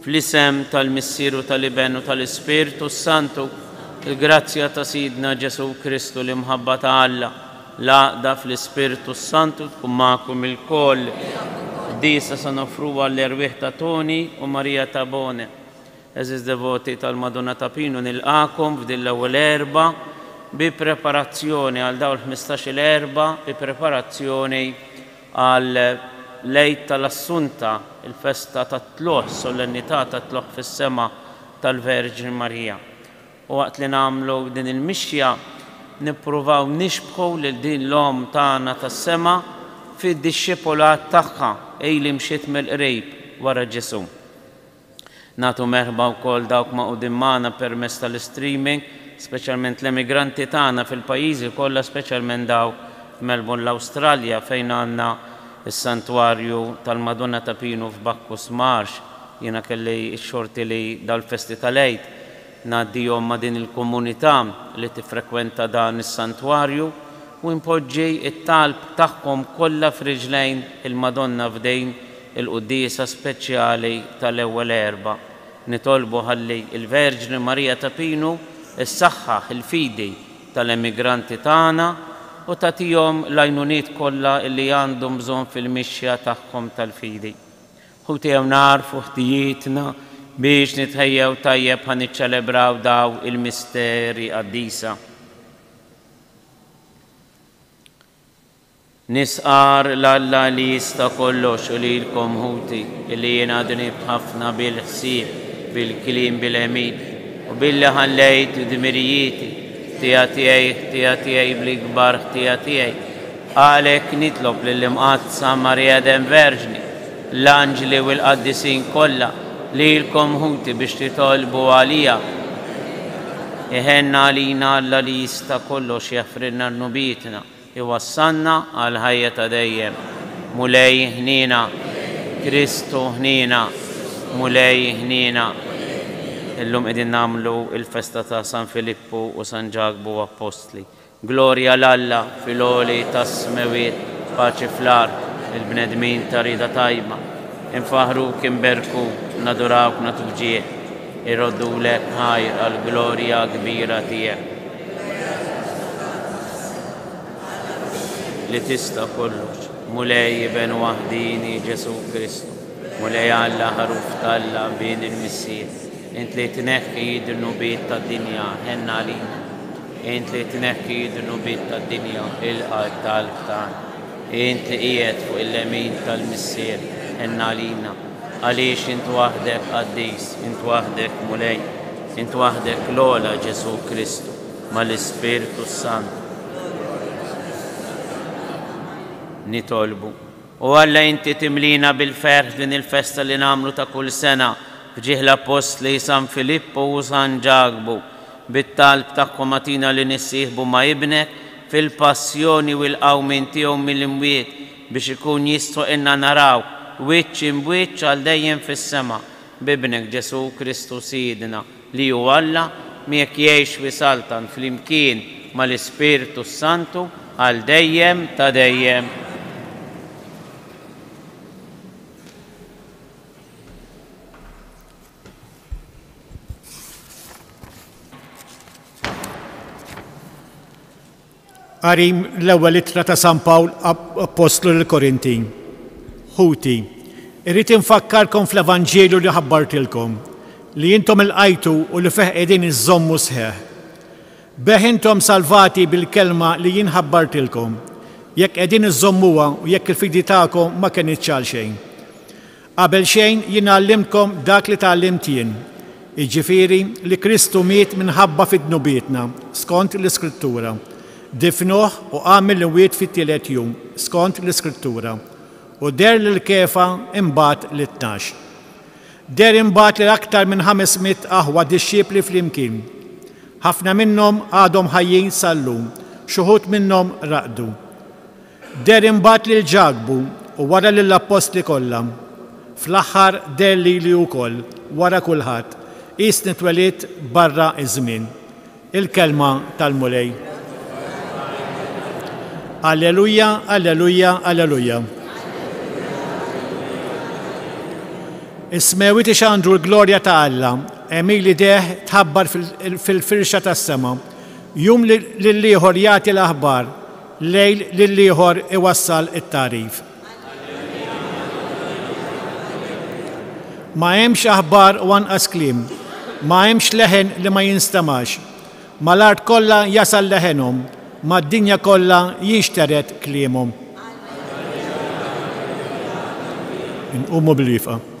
Fl-isem tal-Missier u tal-Iben u tal-Ispirtu s-Santu, il-grazzja ta' Sidna Ġesù Kristu, l-imħabba ta' Alla, l-għaqda fl-Ispirtu s-Santu tkun magħkom ilkoll. Qdisa se noffru għall-erwieħ ta' Toni u Maria Tabone. Għeżież devoti tal-Madonna ta' Pinu nilqagħkom f'din l-ewwel erbgħa bi preparazzjoni għal dawn il-ħmistax-il erbgħa bi preparazzjoni Għal l-Għid tal-Assunta, il-festa tat-Tlugħ, solennità tat-tlugħ fis-sema tal-Verġni Marija. U waqt li nagħmlu din il-mixja, nippruvaw nixbħu lil din l-Omm tagħna tas-sema fid-dixxipulat tagħha, hi li mxiet mill-qrib wara Ġesù. Nagħtu merħba wkoll dawk magħqudin magħna permezz tal-istreaming, speċjalment l-emigranti tagħna fil-pajjiżi kollha speċjalment dawk f'Melbourne l-Awstralja fejn għandna s-Santwarju tal-Madonna ta' Pinu f'Bacchus Marsh. Jiena kelli x-xorti li dal-festi tal-Għid ngħaddihom ma' din il-komunità li tiffrekwenta dan is-santwarju u npoġġi t-talb tagħhom kollha f'riġlejn il-Madonna f'din il-quddiesa speċjali tal-Ewwel Erbgħa. Nitolbu ħalli l-Verġni Marija ta' Pinu ssaħħaħ il-fidi tal-emigranti tagħna u tagħtihom l-għajnuniet kollha li għandhom bżonn fil-mixja tagħhom tal-fidi. Ħuti jew nagħrfu ħtijietna biex nitħejjew tajjeb ħa niċċelebraw daw il-misteri qaddisa. Nistqarr 'l Alla li jista' kollox u lilkom ħuti illi jiena dnibt ħafna bil-ħsieb, bil-kliem, bil-għemil u billi ħallejt dmirijieti, ħtija tiegħi, ħtija tiegħi, bl-ikbar ħtija tiegħi. Għalhekk nitlob lill-Imqaddsa Marija Dem Verġni, l-anġli u l-qaddisin kollha, lilkom ħuti biex titolbu għalija. Iħenn għalina Alla li jista' kollox jaħfrilna dnubietna, iwassalna għall-ħajja ta' dejjem. Mulej ħniena. Kristu ħniena. Mulej ħniena. Illum qegħdin nagħmlu l-festa ta' San Filippu u San Ġakbu Appostli. Glorja 'l Alla fil-għoli tas-smewwiet, paċi fl-art lil bnedmin ta' rieda tajba. Infaħħruk, inberkuk, nadurawk, nagħtu b'ġieħ, irroddulek ħajr għall-glorja kbira tiegħek. Li tista' kollox, Mulej Iben waħdieni Ġesù Kristu, Mulej Alla, Ħaruf t'Alla, Bin il-Missier, int li tneħħi d-dnubiet tad-dinja, ħenn għalina. Int li tneħħi d-dnubiet tad-dinja, il-qalb talb tagħna. Int li qiegħed fuq il-lemin tal-Missier, ħenn għalina. Għaliex int waħdek qaddis, int waħdek Mulej, int waħdek l-ogħla Ġesù Kristu mal-Ispirtu s-Santu. Nitolbu. O Alla, inti timliena bil-ferħ f'din il-festa li nagħmlu ta' kull sena f'ġieħ l-appostli San Filippu u San Ġakbu. Bit-talb tagħhom agħtina li nissieħbu ma' Ibnek fil-passjoni u l-qawmien tiegħu mill-imwiet biex ikun jistħoqqilna narawh wiċċ imb'wiċċ għal dejjem fis-sema. B'Ibnek Ġesù Kristu Sidna. li hu Alla, miegħek jgħix wisaltan flimkien mal-Ispirtu s-Santu għal dejjem ta' dejjem. Qari mill-Ewwel Ittra ta' San Pawl Appostlu lill-Korintin. Ħuti, irrid infakkarkom fl-evanġelju li ħabbartilkom, li intom ilqajtu u li fih qegħdin iżżommu sħiħ. Bih intom salvati bil-kelma li jien ħabbartilkom, jekk qegħdin iżżommuha u jekk il-fidi tagħkom ma kenitx għalxejn. Qabel xejn jien ngħallimkom dak li tgħallimt jien, jiġifieri li Kristu miet minħabba fi dnubietna, skont l-Iskrittura, difnuh u qam mill-imwiet fit-tielet jum, skont l-Iskrittura, u deher lil Kefa, imbagħad lit-tnax. Deher imbagħad lil aktar minn ħames mitt aħwa dixxipli flimkien. Ħafna minnhom għadhom ħajjin sal-lum, xi wħud minnhom raqdu. Deher imbagħad lil Ġakbu u wara lill-appostli kollha. Fl-aħħar deher lili wkoll, wara kulħadd, qisni twelidt barra ż-żmien. Il-Kelma tal-Mulej. Alleluja, alleluja, alleluja. Is-smewwiet ixandru l-glorja ta' Alla, Emili deħ tħabbar fil-firxa tas-sema. Jum lill-ieħor jagħti l-aħbar, Lejl lill-ieħor iwassal it-tagħrif. Ma hemmx aħbar u anqas kliem. Ma hemmx leħen li ma jinstemax. Mal-art kollha jasal leħenhom. Mad-dinja kollha jinxtered kliemhom. Inqumu bil-wieqfa.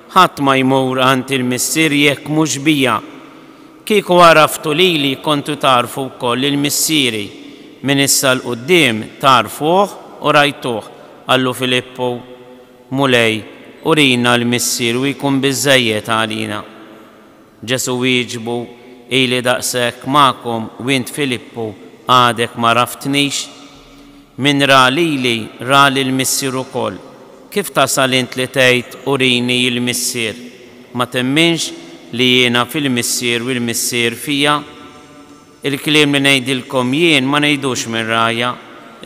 Ħadd ma jmur għand il-Missier jekk mhux bija. Kieku għaraftu lili kontu tagħrfu wkoll lil Missieri. Minn issa 'l quddiem tagħrfuh u rajtuh, qallu Filippu. Mulej, urina l-Missier u jkun biżżejjed għalina. Ġesù wieġbu, Ili daqshekk magħkom u int Filippu għadek m'għaraftnix? Min ra lili ra lill-Missier ukoll. Kif tasal int li tgħid, Urini l-Missier? Ma temminx li jiena fil-Missier u l-Missier fija? Il-kliem li ngħidilkom jien ma ngħidux minn rajja,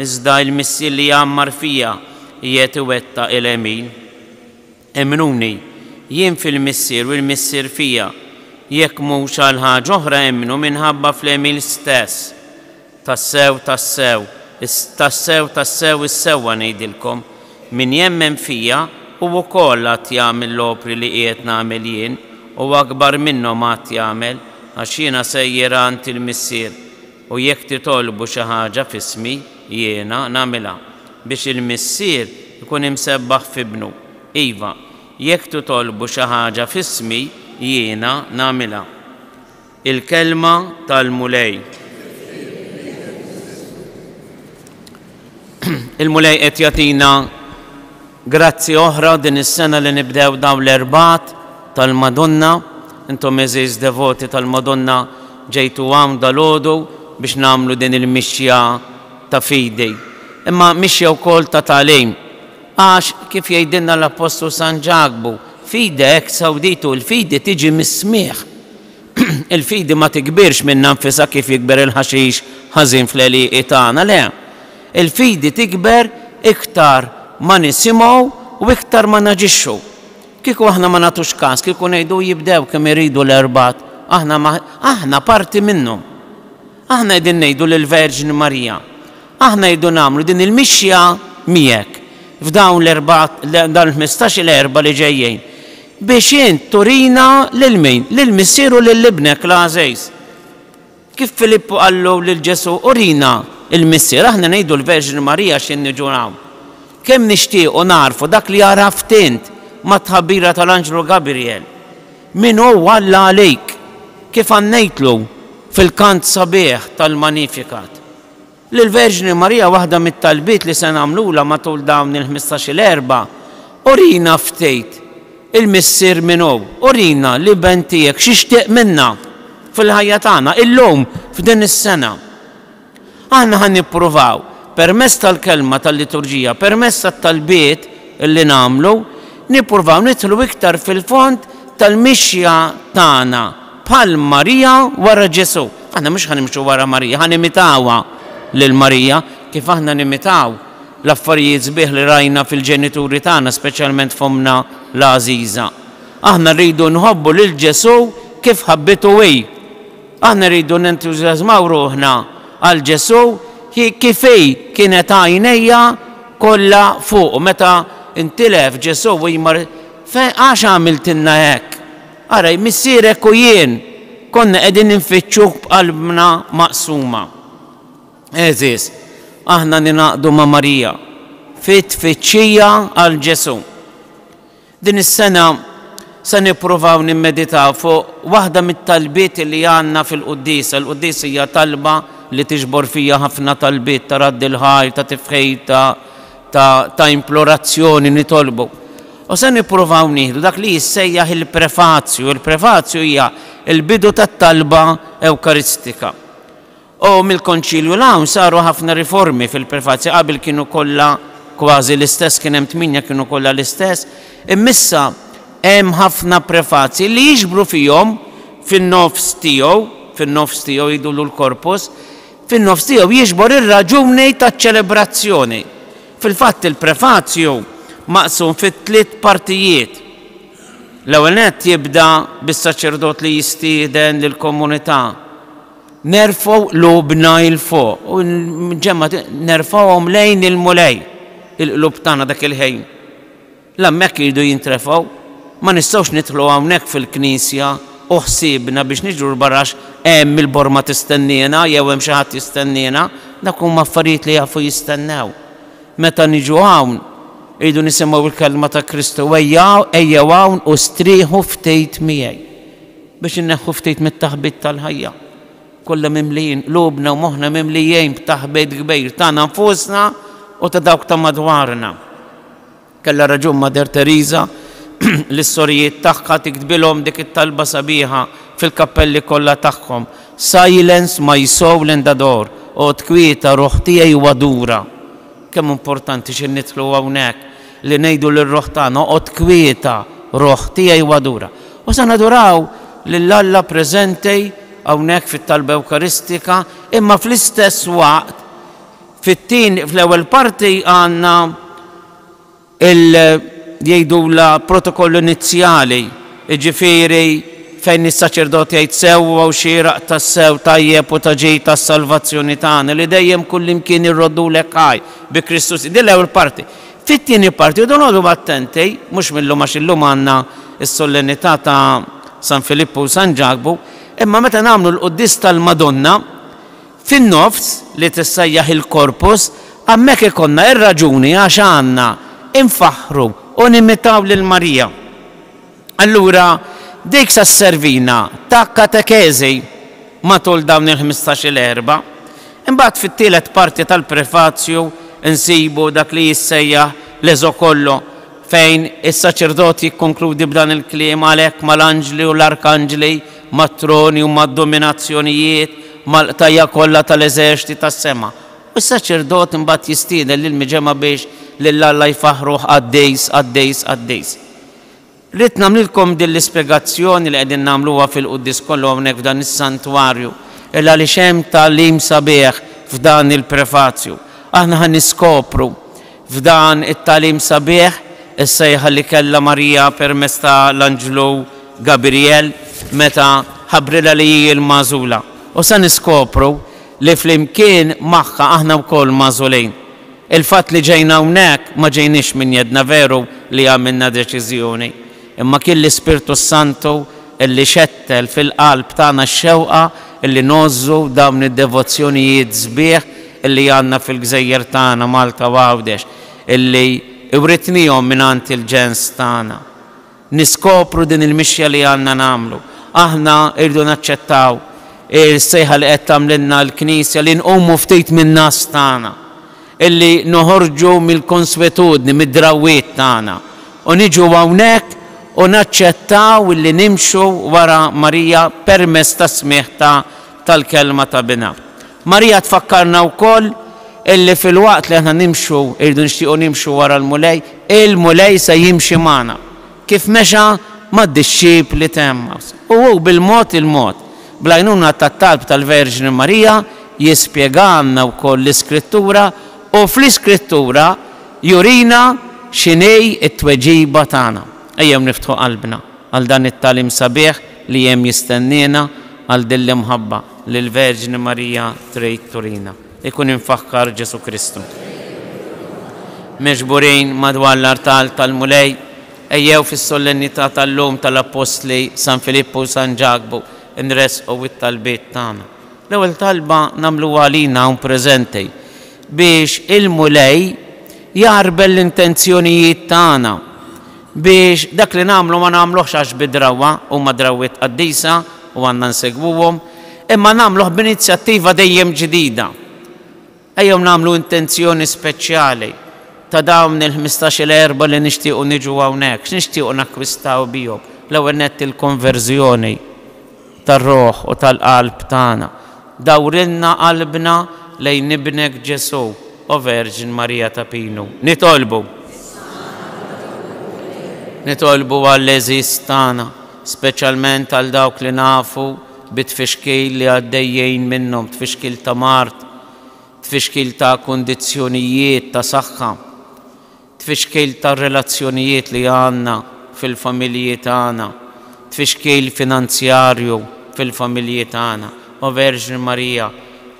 iżda l-Missier li jgħammar fija qiegħed iwettaq il-għemil. Emmnuni, jien fil-Missier u l-Missier fija, jekk mhux għal ħaġa oħra emmnu minħabba fl-għemil stess. Tassew, tassew, tassew, tassew is-sewwa ngħidilkom, min jemmen fija, hu wkoll għad jagħmel l-opri li qiegħed nagħmel jien, u akbar minnhom għad jagħmel, għax jiena sejjer għand il-Missier. U jekk titolbu xi ħaġa f'ismi. Jiena nagħmilha, biex il-Missier ikun imsebbaħ f'Ibnu. Iva, jekk titolbu xi ħaġa f'ismi, jiena nagħmilha. Il-Kelma tal-Mulej. Il-Mulej qed jagħtina Grazzi oħra din is-sena li nibdew dawn l-Erbgħat tal-Madonna. Intom għeżież devoti tal-Madonna ġejtu hawn dalgħodu biex nagħmlu din il-mixja ta' fidi, imma mixja wkoll ta' tagħlim. Għax, kif jgħidilna l-Appostlu San Ġakbu, Fide ex auditu, il-fidi tiġi mis-smigħ. Il-fidi ma tikbirx minnha nfisha kif jikber il-ħaxix ħażin fl-għelieqi tagħna, le. Il-fidi tikber iktar ma nisimgħu u iktar ma naġixxu. Kieku aħna ma nagħtux kas, kieku ngħidu u jibdew kemm iridu l-erbgħat, aħna ma, aħna parti minnhom. Aħna qegħdin ngħidu lill-Verġni Marija, aħna rridu nagħmlu din il-mixja miegħek f'dawn l-erbgħat, dawn il-ħmistax-il erbgħa li ġejjin, biex int turina lil min? Lill-Missier u lil Ibnek l-għażiż. Kif Filippu qallu lil Ġesù, Urina l-Missier, aħna ngħidu l-Verġni Marija x'in niġu hawn. Kemm nixtiequ nagħrfu dak li għaraft int mat-tħabbira tal-anġlu Gabrijel. Min hu Alla għalik? Kif ghannejtlu fil-kant sabiħ tal-Magnificat. Lill-Verġni Marija waħda mit-talbiet li se nagħmlulha matul dawn il-ħmistax-il Erbgħa, Urina ftejt il-Missier min hu, urina l-Iben tiegħek x'jixtieq minna fil-ħajja tagħna illum f'din is-sena. Aħna ħa nippruvaw permezz tal-Kelma tal-Liturġija, permezz tat-talbiet li nagħmlu, nippruvaw nidħlu iktar fil-fond tal-mixja tagħna, Bħal Marija wara Ġesù. Aħna mhux ħa nimxu wara Marija, ħa nimitawha lil Marija. Kif aħna nimitaw l-affarijiet sbieħ li rajna fil-ġenituri tagħna, speċjalment f'ommna l-għażiża? Aħna rridu nħobbu lil Ġesù kif ħabbitu hi. Aħna rridu nentużjażmaw ruħna għal Ġesù kif hi kienet għajnejha kollha fuqu meta ntilef Ġesù u hi mar, Għax għamiltilna hekk? Ara, missierek u jien konna qegħdin infittxuk b'qalbna maqsuma. Għeżież, aħna ningħaqdu ma' Marija fit-tfittxija għal Ġesù. Din is-sena se nippruvaw nimmeditaw fuq waħda mit-talbiet li għandna fil-quddiesa. Il-quddiesa hija talba li tiġbor fiha ħafna talbiet ta' radd il-ħajr, ta' tifħir, ta' ta' ta' implorazzjoni, nitolbu. U se nippruvaw nieħdu dak li jissejjaħ il-prefazju. Il-prefazju hija l-bidu tat-talba Ewkaristika. U mill-Konċilju 'l hawn saru ħafna riformi fil-prefazji. Qabel kienu kollha kważi l-istess, kien hemm tmienja kienu kollha l-istess. Imma issa hemm ħafna prefazji li jiġbru fihom fin-nofs tiegħu, fin-nofs tiegħu jgħidulu l-Korpus, fin-nofs tiegħu jiġbor ir-raġuni taċ-ċelebrazzjoni. Fil-fatt il-prefazju maqsum fi tliet partijiet. L-ewwel nett jibda bis-saċerdot li jistieden lill-komunità, Nerfgħu qlubna 'il fuq, u l-ġemgħa nerfgħuhom lejn il-Mulej, il-qlub tagħna dak il-ħin. L-hemmhekk iridu jintrefgħu. Ma nistgħux nidħlu hawnhekk fil-knisja u ħsiebna biex niġru l-barra għax hemm il-borma tistenniena jew hemm xi ħadd jistenniena. Dawk huma affarijiet li jafu jistennew. Meta niġu hawn, iridu nisimgħu l-kelma ta' Kristu, Ejjew hawn u strieħu ftit miegħi. Biex inneħħu ftit mit-taħbit tal-ħajja. Kollha mimlijin, qlubna u moħħna mimlijin b'taħbit kbir tagħna nfusna u ta' dawk ta' madwarna. Kellha raġun Mater Tereża lis-sorijiet tagħha tiktbilhom dik it-talba sabiħa fil-kappelli kollha tagħhom, Silence my soul and adore, Oqgħod kwieta ruħ tiegħi u adura. Kemm importanti xi nidħlu hawnhekk li ngħidu lir-ruħ tagħna, Oqgħod kwieta ruħ tiegħi u adura. U se naduraw lil Alla preżenti hawnhekk fit-Talba Ewkaristika, imma fl-istess waqt, Fit-tieni, fl-ewwel parti għandna il, jgħidulha protokoll inizjali, jiġifieri fejn is-saċerdot jgħid sew u hawn xieraq tassew, tajjeb u ta' ġid għas-salvazzjoni tagħna, li dejjem kullimkien irroddulek ħaj, bi Kristu Sidna. Din l-ewwel parti. Fit-tieni parti rridu noqogħdu attenti, mhux minn llum għax illum għandna s-sollenità ta' San Filippu u San Ġakbu, imma meta nagħmlu l-quddies tal-Madonna, fin-nofs li tissejjaħ il-Corpus, hemmhekk ikollna r-raġuni għax għandna nfaħħru u nimitaw lil Marija. Allura dik se sservina ta' katekeżi matul dawn il-ħmistax-il Erbgħa. Imbagħad fit-tielet parti tal-Prefazju nsibu dak li jissejjaħ l-Eżokollo fejn is-saċerdot jikkonkludi b'dan il-kliem għalhekk mal-anġli u l-arkanġli mat-troni u mad-dominazzjonijiet, mal-qtajja' kollha tal-eżerċti tas-sema. U s-saċerdot imbagħad jistieden lill-miġemgħa biex lil Alla jfaħħruh qaddis, qaddis, qaddis. Ridt nagħmlilkom din l-ispjegazzjoni li qegħdin nagħmluha fil-quddies kollu hawnhekk f'dan is-santwarju, il għaliex hemm tagħlim sabiħ f'dan il-prefazju. Aħna ħa niskopru F'dan it-tagħlim sabiħ, is-sejħa li kellha Marija permezz ta' l-anġlu Gabrijel meta ħabbrilha li hi l-magħżula. U se niskopru li flimkien magħha aħna wkoll magħżulin. Il-fatt li ġejna hawnhekk ma ġejniex minn jedna veru li għamilna deċiżjoni. Imma kien l-Ispirtu s-Santu li xettel fil-qalb tagħna x-xewqa li ngħożżu dawn id-devozzjonijiet sbieħ li għandna fil-gżejjer tagħna, Malta u Għawdex, li writnihom mingħand il-ġens tagħna. Niskopru din il-mixja li għandna nagħmlu. Aħna rridu naċċettaw is-sejħa li qed tagħmlilna l-Knisja li nqumu ftit min-ngħas tagħna, Illi noħorġu mill-konswetudni, mid-drawwiet tagħna, u niġu hawnhekk u naċċettaw illi nimxu wara Marija permezz tas-smigħ ta' tal-Kelma ta' Binha. Marija tfakkarna wkoll illi filwaqt li aħna nimxu, irridu nixtiequ nimxu wara l-Mulej, il-Mulej se jimxi magħna. Kif mexa mad-dixxipli t'Għemmaws, u hu bil-mod il-mod, bl-għajnuna tat-talb tal-Verġni Marija, jispjegalna wkoll l-Iskrittura u fl-Iskrittura jurina x'inhi t-tweġiba tagħna. Ejjew niftħu qalbna għal dan it-tagħlim sabiħ li hemm jistenniena, għal din l-imħabba li l-Verġni Marija trid turina. Ikun imfakkar Ġesù Kristu. Miġburin madwar l-artal tal-Mulej, ejjew fis-Solennità tal-lum tal-Appostli San Filippu u San Ġakbu nressqu t-talbiet tagħna. L-ewwel talba nagħmluha għalina hawn preżenti, biex il-Mulej jgħarbel l-intenzjonijiet tagħna, Biex dak li nagħmlu ma nagħmluhx għax bi drawwa, huma drawwiet qaddisa u għandna nsegwuhom, imma nagħmluh b'inizjattiva dejjem ġdida. Ejjew nagħmlu intenzjoni speċjali ta' dawn il-ħmistax-il erba li nixtiequ niġu hawnhekk. X'nixtiequ nakkwistaw bihom? L-ewwel nett il-konverżjoni. tar-ruħ u tal-qalb tagħna. Dawrilna qalbna lejn Ibnek Ġesù, O Verġni Marija ta' Pinu, nitolbu. Nitolbu għall-għeżież tagħna, speċjalment għal dawk li nafu bi tfixkil li għaddejjin minnhom, tfixkil ta' mard, tfixkil ta' kundizzjonijiet ta' saħħa. tfixkil tar-relazzjonijiet li għandna fil-familji tagħna, tfixkil finanzjarju fil-familji tagħna. O Verġni Marija,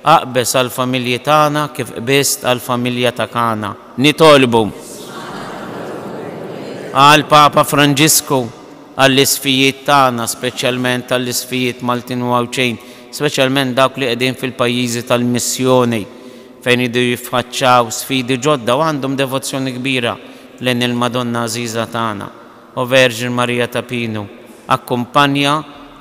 aqbeż għall-familji tagħna kif qbiżt għall-familja ta' Kana. Nitolbu għall-Papa Franġisku, għall-isfijiet tagħna, speċjalment għall-isfijiet Maltin u Għawdxin, speċjalment dawk li qegħdin fil-pajjiżi tal-missjoni, fejn iridu jiffaċċaw sfidi ġodda u għandhom devozzjoni kbira lejn il-Madonna għażiża tagħna, O Verġni Marija ta' Pinu, akkumpanja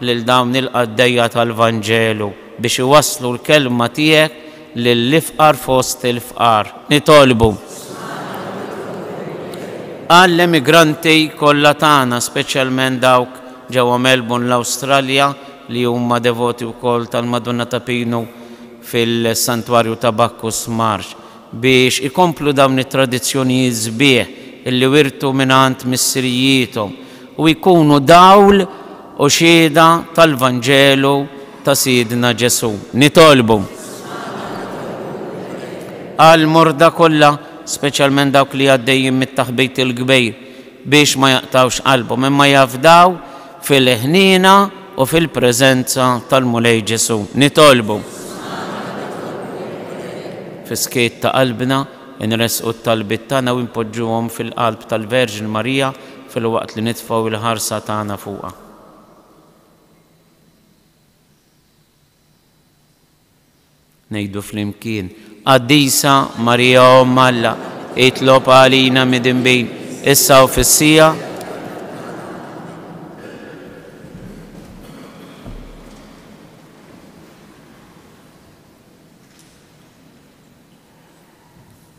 lil dawn il-qaddejja tal-Vanġelu biex iwasslu l-kelma tiegħek lill-ifqar fost il-fqar. Nitolbu għall-emigranti kollha tagħna, speċjalment dawk ġewwa Melbourne, l-Awstralja, li huma devoti wkoll tal-Madonna ta' Pinu, fil-Santwarju ta' Bacchus Marsh biex ikomplu dawn it-tradizzjonijiet sbieħ li wirtu mingħand missirijiethom u jkunu dawl u xhieda tal-Vanġelu ta' Sidna Ġesù. Nitolbu għall-morda kollha, speċjalment dawk li għaddejjin mit-taħbit il-kbir, biex ma jaqtgħux qalbhom, imma jafdaw fil-ħniena u fil-preżenza tal-Mulej Ġesù, nitolbu. Fis-skiet ta' qalbna, inressqu t-talbiet tagħna u npoġġuhom fil-qalb tal-Verġni Marija filwaqt li nitfgħu l-ħarsa tagħna fuqha. Ngħidu flimkien, Qaddisa Marija Omm Alla, itlob għalina midinbin, issa u fis-siegħa.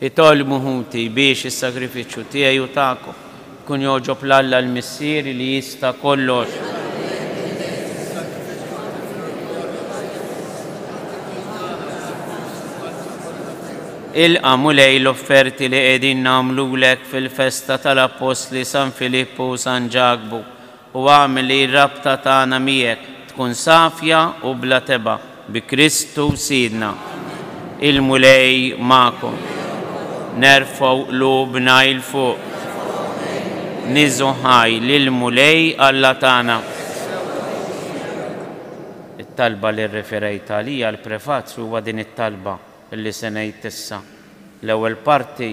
Itolbu ħuti biex is-sagrifiċċju tiegħi u tagħkom ikun jogħġob 'l Alla l-Missier li jista' kollox. Ilqa' Mulej l-offerti li qegħdin nagħmlulek fil-festa tal-Appostli San Filippu u San Ġakbu. u agħmel li r-rabta tagħna miegħek tkun safja u bla tebgħa, bi Kristu Sidna. Il-Mulej magħkom. Nerfgħu qlubna 'il fuq. Nieżgħu ħaj lill-Mulej Alla tagħna. It-talba li rreferejt għaliha l-prefazju huwa din it-talba. li se ngħid issa. L-ewwel parti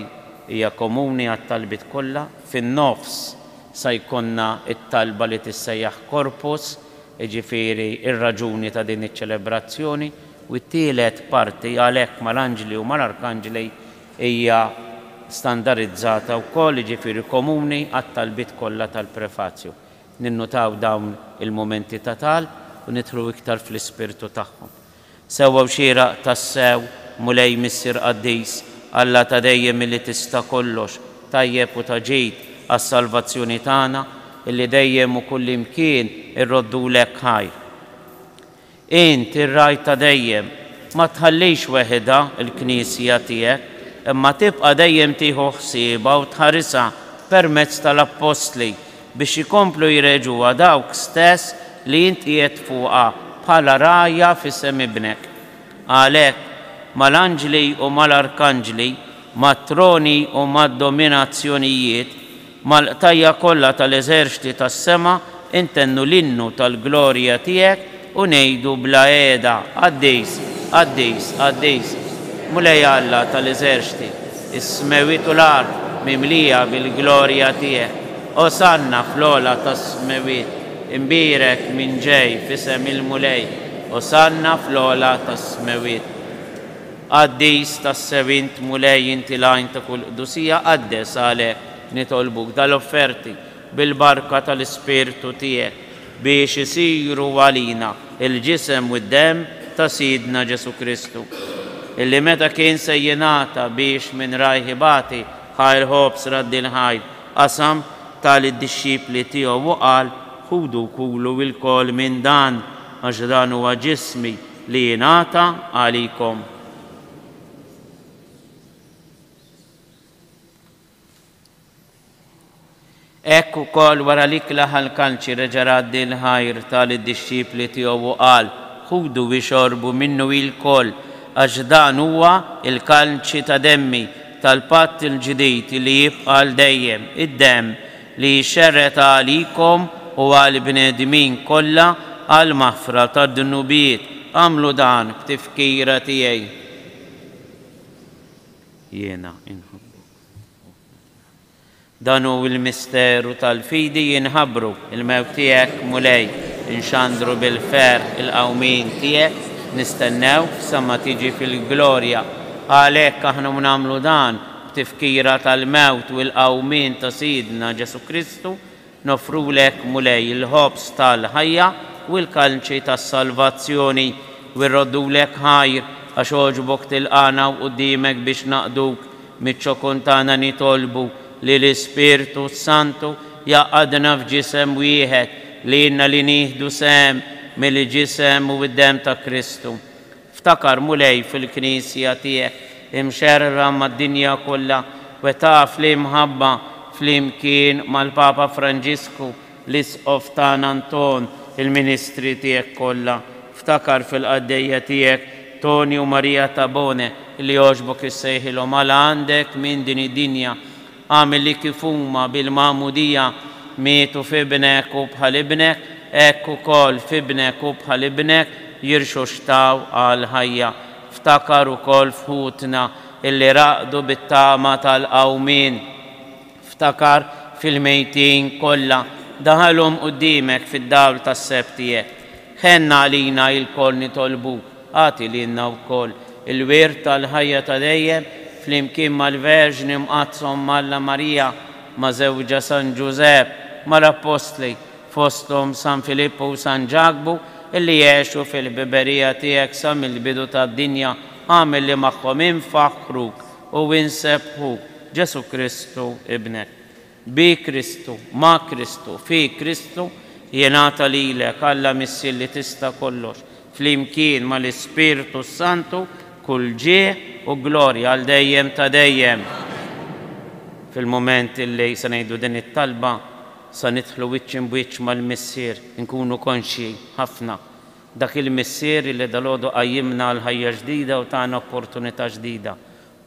hija komuni għat-talbiet kollha, fin-nofs sa jkollna t-talba li tissejjaħ Corpus, jiġifieri r-raġuni ta' din iċ-ċelebrazzjoni, u t-tielet parti għalhekk mal-anġli u mal-arkanġli hija standarizzata wkoll, jiġifieri komuni għat-talbiet kollha tal-prefazju. Ninnutaw dawn il-mumenti ta' talb u nidħlu iktar fl-ispirtu tagħhom. Sewwa u xieraq tassew, Mulej Missier Qaddis, Alla ta' dejjem illi tista' kollox, tajjeb u ta' ġid għas-salvazzjoni tagħna, illi dejjem u kullimkien irroddulek ħajr. Int, ir-Ragħaj ta' dejjem, ma tħallix weħidha l-Knisja tiegħek, imma tibqa' dejjem tieħu ħsiebha u tħarisha permezz tal-Appostli biex ikomplu jreġgħuha dawk stess li int qiegħed fuqha bħala rgħajja f'isem Ibnek. Għalhekk, mal-anġli u mal-arkanġli, mat-troni u mad-dominazzjonijiet, mal-qtajja' kollha tal-eżerċti tas-sema intennu l-innu tal-glorja tiegħek, U ngħidu bla qiegħda, Qaddis, qaddis, qaddis, Mulej Alla ta' l-eżerċti, is-smewwiet u l-art mimlija bil-glorja tiegħek. Osanna fl-ogħla tas-smewwiet, imbierek min ġej f'isem il-Mulej, Osanna fl-ogħla tas-smewwiet. Qaddis tassew int, Mulej, inti l-għajn ta' kull qdusija, qaddes għalhekk nitolbuk dal-offerti bil-barka tal-Ispirtu Tiegħek, biex isiru għalina l-Ġisem u d-Demm ta' Sidna Ġesù Kristu, illi meta kien se jingħata biex minn rajh ibati, ħa l-ħobż raddil ħaj, qasam, ta lid-dixxipli Tiegħu u qal, Ħudu u kulu ilkoll minn dan, għax dan huwa Ġismi li jingħata għalikom. Hekk ukoll wara li klaħ għall-kalċi reġa' radd il-ħajr, ta lid-dixxipli tiegħu u qal, Ħudu u ixorbu minnu ilkoll, għax dan huwa l-kalċi ta' demmi, tal-patt il-ġdid li jibqa' għal dejjem, id-demm li jixxerred għalikom u għall-bnedmin kollha għall-maħfra tad-dnubiet. Agħmlu dan f'tifkira tiegħi. Jiena nħobbok. Dan hu l-misteru tal-fidi jinħabru, il-mewt tiegħek, Mulej, inxandru bil-ferħ il-qawmien tiegħek, nistennewk sa ma tiġi fil-glorja. Għalhekk aħna nagħmlu dan b'tifkira tal-mewt u l-qawmien ta' Sidna Ġesù Kristu, Noffrulek, Mulej, il-ħobż tal-ħajja u l-kalnċi tas-salvazzjoni, u irroddulek ħajr, għax għoġbok tilqagħna u quddiemek biex naqduk, miċ-ċokon tagħna nitolbu li l-Ispirtu s-Santu jgħaqqadna f'ġisem wieħed, lilna li nieħdu sehem mill-ġisem u d-demm ta' Kristu. Ftakar, Mulej, fil-Knisja tiegħek imxerrda mad-dinja kollha, u itaf l-imħabba, flimkien mal-Papa Franġisku, l-Isqof tagħna Anton, il-ministri tiegħek kollha. Ftakar fil-qaddejja tiegħek Tonio Maria Tabone, li għoxbok issejħilhom għal għandek minn din id-dinja. Agħmel li kif huma bil-magħmudija mietu f'ibnek u bħal ibnek, hekk ukoll f'ibnek u bħal ibnek jirxoxtaw għall-ħajja. Ftakar ukoll f'ħutna li raqdu bit-tama tal-qawmien. Ftakar fil-mejtin kollha. Daħalhom quddiemek fid-dawl tas-seb tiegħek. Ħenn għalina ilkoll nitolbuk. Agħti lilna wkoll il-wirt tal-ħajja ta' dejjem flimkien mal-Verġni Mqaddsa Omm Alla Marija, ma' żewġha San Ġużepp, mal-Appostli, fosthom San Filippu u San Ġakbu, illi għexu fil-ħbiberija tiegħek sa mill-bidu tad-dinja, agħmilli magħhom infaħħruk u insebħuk, Ġesù Kristu Ibnek. Bi Kristu, ma' Kristu, fi Kristu, jingħata lilek, Alla Missier li tista' kollox, flimkien mal-Ispirtu s-Santu, kull ġieh u glorja għal dejjem ta' dejjem. Fil-mument li se ngħidu din it-talba, sa nidħlu wiċċ imb'wiċċ mal-Missier, inkunu konxji ħafna, dak il-Missier li dalgħodu qajjimna għal ħajja ġdida u tana opportunità ġdida,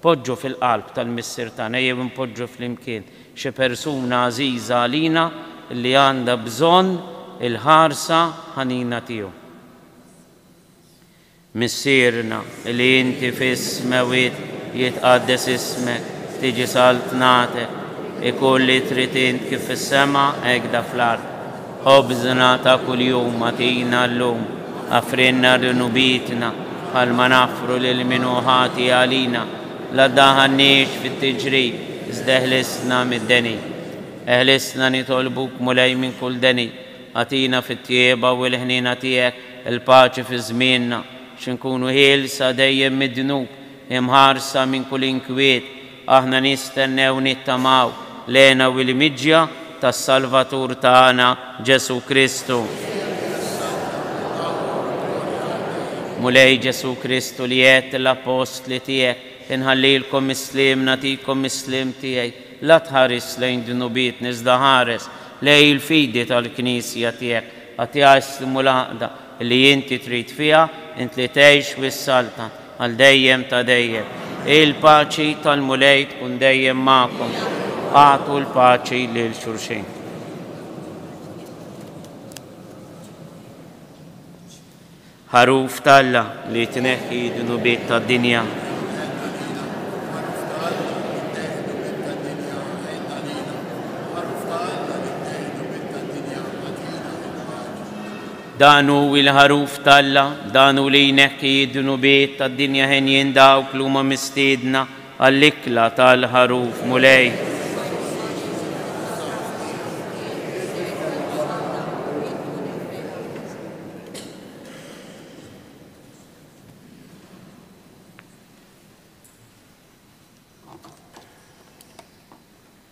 Poġġu fil-qalb tal-Missier tagħna jew inpoġġu flimkien xi persuna għażiża għalina li għandha bżonn il-ħarsa ħanina tiegħu. Missierna li inti fis-smewit jitqaddes ismek, tiġi saltnatek, ikun li trid int kif fis-sema hekda fl-art. Ħobżna ta' kuljum agħtina llum, aħfrilna d-dnubietna bħalma naħfru lil min hu ħati għalina. La ddaħħalniex fit-tiġrid, iżda eħlisna mid-deni'. Eħlisna nitolbuk, Mulej, minn kull deni'. Agħtina fit-tjieba u l-ħniena tiegħek il-paċi fi żmienna, biex inkunu ħielsa dejjem mid-dnub, imħarsa minn kull inkwiet, Aħna nistennew nittamaw l-hena u l-imġja tas-Salvatur tagħna Ġesù Kristu. Mulej Ġesù Kristu li għedt lill-Appostli tiegħek, Inħallilkom is-sliem, nagħtikom is-sliem tiegħi, la tħares lejn dnubietna iżda ħares lejn il-fidi tal-Knisja tiegħek, agħtiha s-sliem u l-għaqda, Li inti trid fiha, int li tgħix u ssalta, għal dejjem ta' dejjem. Il-paċi tal-Mulej tkun dejjem magħkom. Agħtu l-paċi lil xulxin. Ħaruf t'Alla li tneħħi d-dnubiet tad-dinja. Dan hu l-ħaruf t'Alla, dan hu li jneħħi d-dnubiet tad-dinja henjin dawk li huma mistiedna għall-ikla tal-ħaruf Mulej.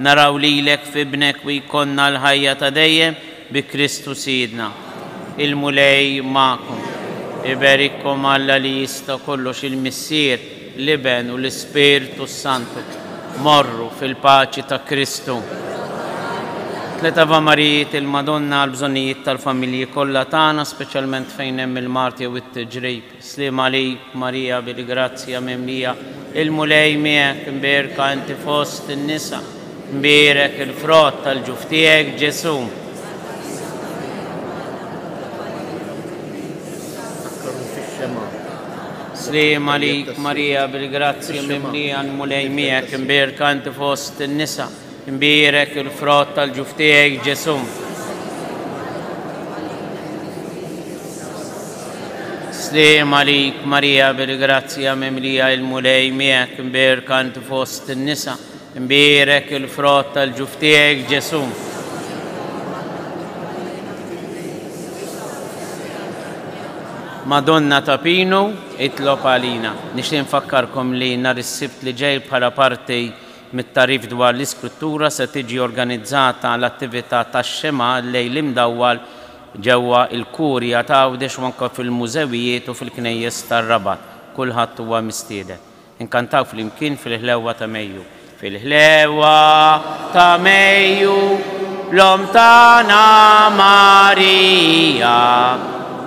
Naraw lilek f'Ibnek u jkollna l-ħajja ta' dejjem bi Kristu Sidna. Il-Mulej magħkom. Iberikkom Alla li jista' kollox il-Missier, l-Iben u l-Ispirtu s-Santu. Morru fil-paċi ta' Kristu. Tliet Ave Marijiet il-Madonna għall-bżonnijiet tal-familji kollha tagħna, speċjalment fejn hemm il-mard jew it-tiġrib. Sliem għalik, Marija, bil-grazzja mimlija, il-Mulej miegħek, imbierka inti fost in-nisa, imbierek il-frott tal-ġuf tiegħek, Ġesù. Sliem għalik, Marija, bil-grazzja mimlija, il-Mulej miegħek, imbierka inti fost in-nisa, Imbierek il-frott tal-ġuf tiegħi, Ġesù. Sliem għalik, Marija, bil-grazzja mimlija il-Mulej miegħek, imbierka inti fost in-nisa. Imbierek il-frott tal-ġuf tiegħi, Ġesù. Madonna ta' Pinu, itlob għalina. Nixtieq nfakkarkom li nhar is-Sibt li ġej bħala parti Mit-tagħrif dwar l-istruttura se tiġi organizzata l-attività tax-Xemgħa l-Lejl Imdawwal ġewwa l-Kurja ta' Għawdex u anke fil-mużewijiet u fil-knejjes tar-Rabat. Kulħadd huwa mistieden. Inkantaw flimkien fil-ħlewwa ta' Mejju. Fil-ħlewwa ta' Mejju, l-Omm tagħna Marija.